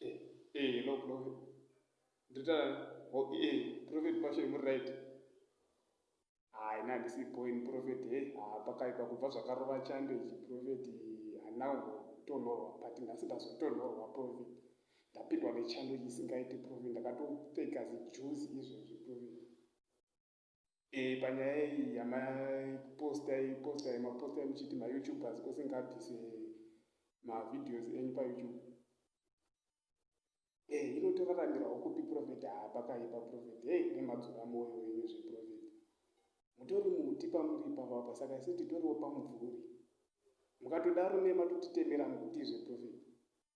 Eh, hello Prophet. Ndita ho eh Prophet Passion muri right. Hayi na ndisi point Prophet hey ah pakaipa kubva zvakarova chando ichi Prophet hana kutonhorwa but nhasi ndazotonhorwa Prophet. Ndapindwa nechando isingaiti Prophet ndakatopfeka zijuzi izvozvi Prophet. Eh, panyaya iyi yamapostai postai mapostai muchiti mayoutubers kose ngabvise mavideos enyu payoutube e eh, ino toraramirawo kupi profet haa pakaipa profet hei eh, nemadzora mwoyo wenyu zveprofet mutori muti pamuri ipapapa saka isu titoriwo pamubvuri mukatodaro nematotitemera mukuti zveprofet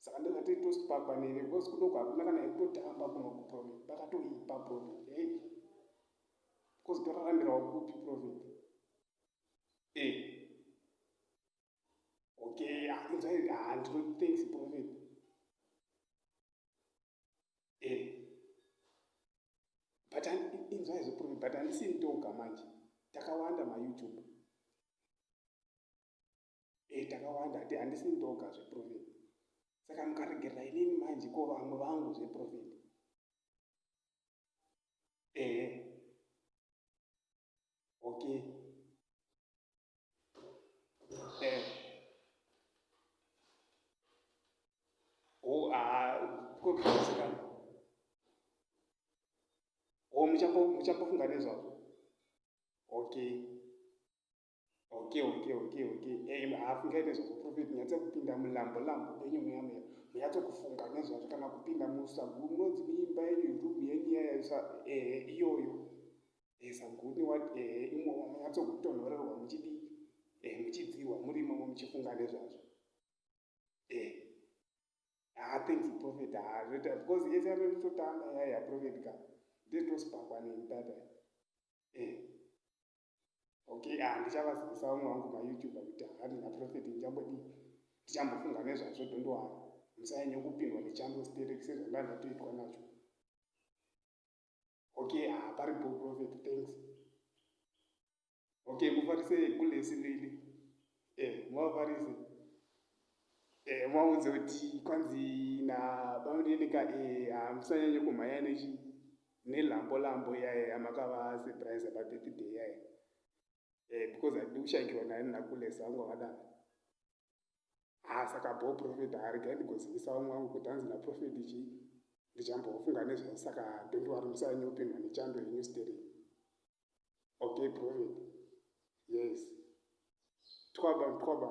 saka ndakati tosi pakwanire because kudoko hakuna kana ekutotamba kuno kuprofit pakatoipa profit ei because torarambirawo kupi profit e okay anzai ah, ah, handino thanks profit e but inzwai zveprofit but handisi ndoga manje takawanda mayoutube e, takawanda hati handisi ndoga zveprofeti saka mukaregerera inini manje ko vamwe vangu zveprofeti ehe okay eh. kokuisikana o muchambofunga nezvazvo okay Okay, okay, okay, okay. Hey, eh, haafungai nezvakuprofit nyatsa kupinda mulambo lambo enyu mweya mweya munyatso kufunga nezvazvo kana kupinda musaguru munonzi muimba yenyu room yenyu yayaisa ehe eh, iyoyo ehe saguni wat ehe eh, imomo munyatso kutonhorerwa muchidii ehe muchidzirwa muri imomo muchifunga nezvazvo ehe haa thanks profit haa zvoita because yese yamemutotamba yaya profit ka ndetosipakwa neni tata ehe okay ah ndichavazivisa vamwe vangu mayoutuber kuti hakati naprofet ndichambodii ndichambofunga nezvazvo dondowana musanyanye kupindwa nechando sterek sezvandandatoitwa nacho okay ah paripo profet thanks okay mufarise kulesi lili Eh, mwaparise. Eh, mwaudze kuti kwanzi na bamunenika eh hamusanyanye ah, kumhanya nechi nelambo lambo iyaye amakava surprise pa birthday iyaye. Eh, because handidi kushaikirwa naye nakulesa wangu akadaro. Ah, saka bho prophet haarigai ndigozivisa vamwe wangu kuti hanzi na prophet chii ndichambofunga nezvazvo saka don't worry musanyanye kupindwa nechando yenyu sterei. Okay, prophet. Yes. Twaba, twaba.